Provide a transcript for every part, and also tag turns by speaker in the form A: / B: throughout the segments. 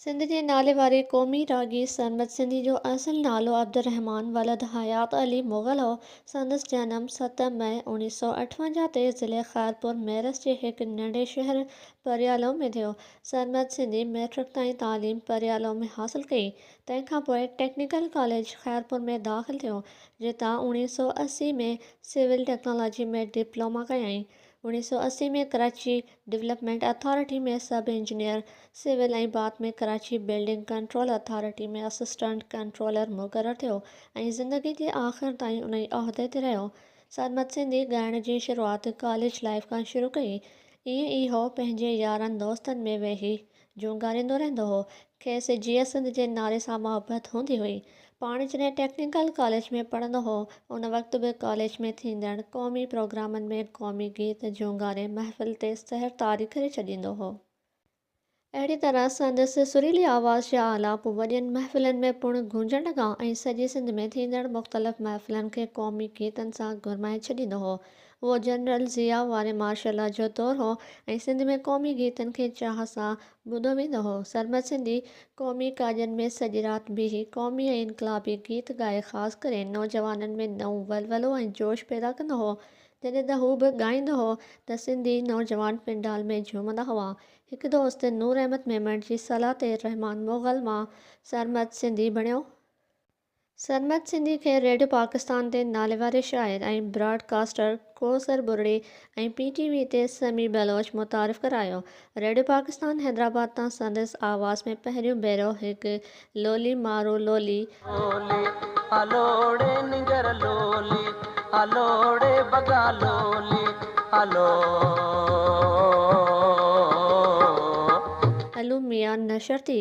A: سنڌ جي ناليواري قومي راڳي سرمد سنڌي جو اصل نالو عبدالرحمان ولد حيات علي مغل هو. سندس جنم ست مئي اوڻيهه سؤ اٺونجاهه تي ضلعي خيرپور ميرس جي هڪ ننڍي شهر پريالو ۾ ٿيو. سرمد سنڌي مئٽرڪ تائين تعليم پريالو ۾ حاصل ڪئي. تنهن کان پوء ٽيڪنيڪل ڪاليج خيرپور ۾ داخل ٿيو، جتان اوڻيهه سؤ اسي ۾ سول ٽيڪنالاجي ۾ ڊپلوما ڪيائين. اوڻيهه سؤ اسي ۾ Karachi development authority ۾ sub engineer civil ۽ بعد ۾ Karachi building control authority ۾ assistant controller مقرر ٿيو ۽ زندگي جي آخر تائين ان ئي عهدي تي رهيو. سرمد سنڌي ڳائڻ جي شروعات ڪاليج لائيف کان شروع ڪئي. ائين ئي هو پنهنجي يارن دوستن ۾ ويهي جون ڳالهائيندو رهندو هو. کيس جيئي سنڌ جي نالي سان محبت هوندي هئي. پاڻ جڏهن ٽيڪنيڪل ڪاليج ۾ پڙهندو هو، ان وقت به ڪاليج ۾ ٿيندڙ قومي پروگرامن ۾ قومي گيت جون ڳالهين محفل تي سحر طاري ڪري ڇڏيندو هو. اهڙي طرح سندس سريلي آواز جا آلاپ وڏين محفلن ۾ پڻ گونجڻ لڳا ۽ سڄي سنڌ ۾ ٿيندڙ مختلف محفلن کي قومي گيتن سان گرمائي ڇڏيندو هو. اهو جنرل ضياء واري مارشل لا جو دور هو ۽ سنڌ ۾ قومي گيتن کي چاهه سان ٻڌو ويندو هو. سرمد سنڌي قومي ڪاڄن ۾ سڄي رات بيهي قومي ۽ انقلابي گيت ڳائي خاص ڪري نوجوانن ۾ نئون ولولو ۽ جوش پيدا ڪندو هو. جڏهن ته هو به ڳائيندو هو ته سنڌي نوجوان پنڊال ۾ جهومندا هئا. هڪ دوست نور احمد ميمڻ جي صلاح تي رحمان مغل مان سرمد سنڌي بڻيو. سرمد سنڌي کي ريڊيو پاڪستان تي ناليواري شاعر ۽ براڊ ڪاسٽر ڪوثر ٻرڙي ۽ پي ٽي وي تي سميع بلوچ متعارف ڪرايو. ريڊيو پاڪستان حيدرآباد تان سندس آواز ۾ پهريون ڀيرو هڪ لولي مارو لولي، لولي آ لوڙي
B: نينگر لولي آ لوڙي بگا لولي
A: آ لو. علوم ميان نشر ٿي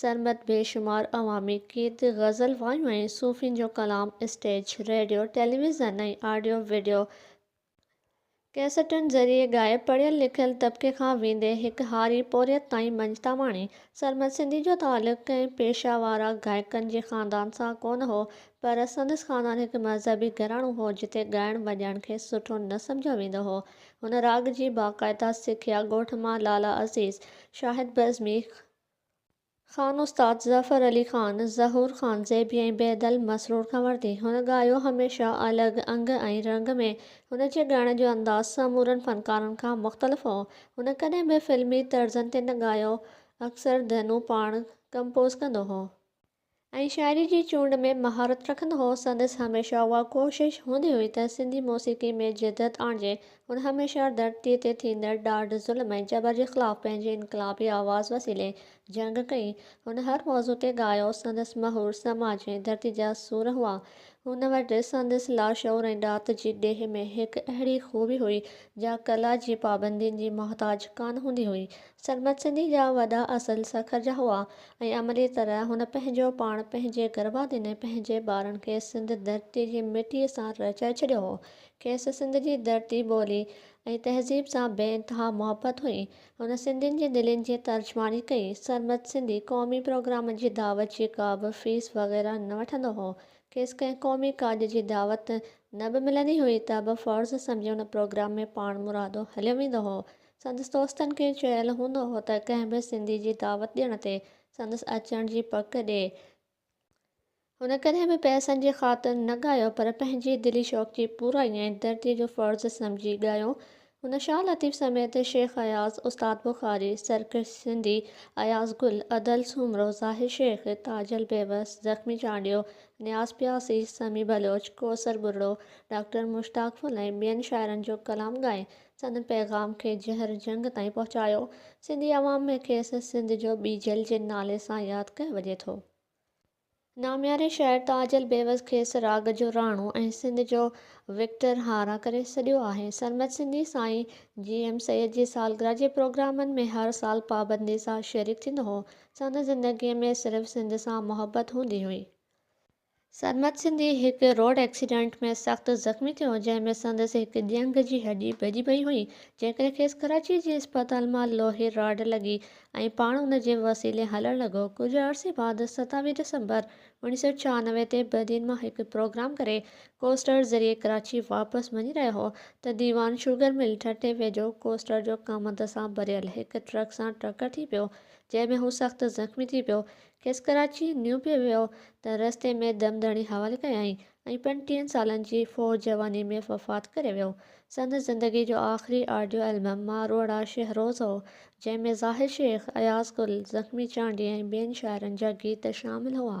A: سرمد بي شمار عوامي گيت، غزل، وايون ۽ صوفين جو ڪلام stage, radio, television ۽ audio video ڪيسٽن ذريعي ڳائي، پڙهيل لکيل طبقي کان ويندي هڪ هاري پورهيت تائين مڃتا ماڻي. سرمد سنڌي جو تعلق ڪنهن پيشه وارا گائڪن جي خاندان سان ڪونه هو، پر سندس خاندان هڪ مذهبي گهراڻو هو، جتي ڳائڻ وڄائڻ کي سٺو نه سمجهيو ويندو هو. هن راڳ جي باقاعده سکيا ڳوٺ مان لالا عزيز، شاهد بزمي، خان استاد ظفر علي خان، ظهور خان زيبي ۽ بيدل مسرور کان ورتي. هن ڳايو هميشه الڳ انگ ۽ رنگ ۾. هن جي ڳائڻ جو انداز سمورن فنڪارن کان مختلف هو. هن ڪڏهن به فلمي طرزن تي نه ڳايو، اڪثر ڌنون پاڻ ڪمپوز ڪندو هو. ۽ شاعري جي چونڊ ۾ مهارت رکندو هو، سندس هميشه اها ڪوشش هوندي هئي ته سنڌي موسيقي ۾ جدت آڻجي. هن هميشه ڌرتيء تي ٿيندڙ ڏاڍ، ظلم ۽ جبر جي خلاف پنهنجي انقلابي آواز وسيلي جنگ ڪئي. هن هر موضوع تي ڳايو، سندس مهور سماج ۽ ڌرتي جا سور هئا. هن وٽ سندس لاشعور ۽ ڏات جي ڏيهه ۾ هڪ اهڙي خوبي هئي، جا ڪلا جي پابندين جي محتاج ڪانه هوندي هئي. سرمد سنڌي جا وڏا اصل سکر جا هئا ۽ عملي طرح هن پنهنجو پاڻ پنهنجي گرڀادين ۽ پنهنجي ٻارن کي سنڌ ڌرتي جي مٽيء سان رچائي ڇڏيو هو. کيس سنڌ جي ڌرتي، ٻولي ۽ تهذيب سان بي انتها محبت هئي. هن سنڌين جي دلين جي ترجماڻي ڪئي. سرمد سنڌي قومي پروگرام جي دعوت جي ڪا به فيس وغيره نه وٺندو هو. کيس ڪنهن قومي ڪاڄ جي دعوت نه به ملندي هئي ته به فرض سمجهي ان پروگرام ۾ پاڻمرادو هليو ويندو هو. سندس دوستن کي چيل هوندو هو ته ڪنهن به سنڌي جي دعوت ڏيڻ تي سندس اچڻ جي پڪ ڏي. هن ڪڏهن به پئسن جي خاطر نه ڳايو پر پنهنجي دلي شوق جي پورائي ۽ دردي جو فرض سمجهي ڳايو. هن شاهه لطيف سميت شيخ اياز، استاد بخاري، سرڪش سنڌي، اياز گل، ادل سومرو، ظاهر شيخ، تاجل بيوس، زخمي چانڊيو، نياز پياسي، سميع بلوچ، ڪوثر ٻرڙو، ڊاڪٽر مشتاق ڦل ۽ ٻين شاعرن جو ڪلام ڳائي سندن پيغام کي جهر جهنگ تائين پهچايو. سنڌي عوام ۾ کيس سنڌ جو ٻيجل جي نالي سان ياد ڪيو وڃي ٿو. نامياري شاعر تاجل بيوس کيس راڳ جو راڻو ۽ سنڌ جو وڪٽر هارا ڪري سڏيو آهي. سرمد سنڌي سائين جي ايم سيد جي سالگرهه جي پروگرامن ۾ هر سال پابندي سان شريڪ ٿيندو هو. سندس زندگيء ۾ صرف سنڌ سان محبت هوندي هئي. سرمد سنڌي هڪ روڊ ايڪسيڊنٽ ۾ سخت زخمي ٿيو جنهن ۾ سندس هڪ ڄنگهه جي هڏي ڀڄي پئي هئي جنهن ڪري کيس ڪراچي جي اسپتال مان لوهي راڊ لڳي ۽ پاڻ ان جي وسيلي هلڻ لڳو ڪجهه عرصي بعد ستاويهه ڊسمبر اوڻيهه سؤ ڇهانوي تي بدين مان هڪ پروگرام ڪري ڪوسٽر ذريعي ڪراچي واپس وڃي رهيو هو ته ديوان شوگر مل ٺٽي ويجهو ڪوسٽر جو ڪامند سان ڀريل هڪ ٽرڪ سان ٽڪر ٿي پيو جنهن ۾ هو سخت زخمي ٿي پيو کيس ڪراچي نيو پيو ويو ته رستي ۾ دم ڌڻي حوالي ڪيائين ۽ پنجٽيهن سالن جي فوج جواني ۾ وفات ڪري ويو. سندس زندگي جو آخري آڊيو البم ماروئڙا شهروز هو، جنهن ۾ زاهد شيخ، اياز گل، زخمي چانڊيي ۽ ٻين شاعرن جا گيت شامل هئا.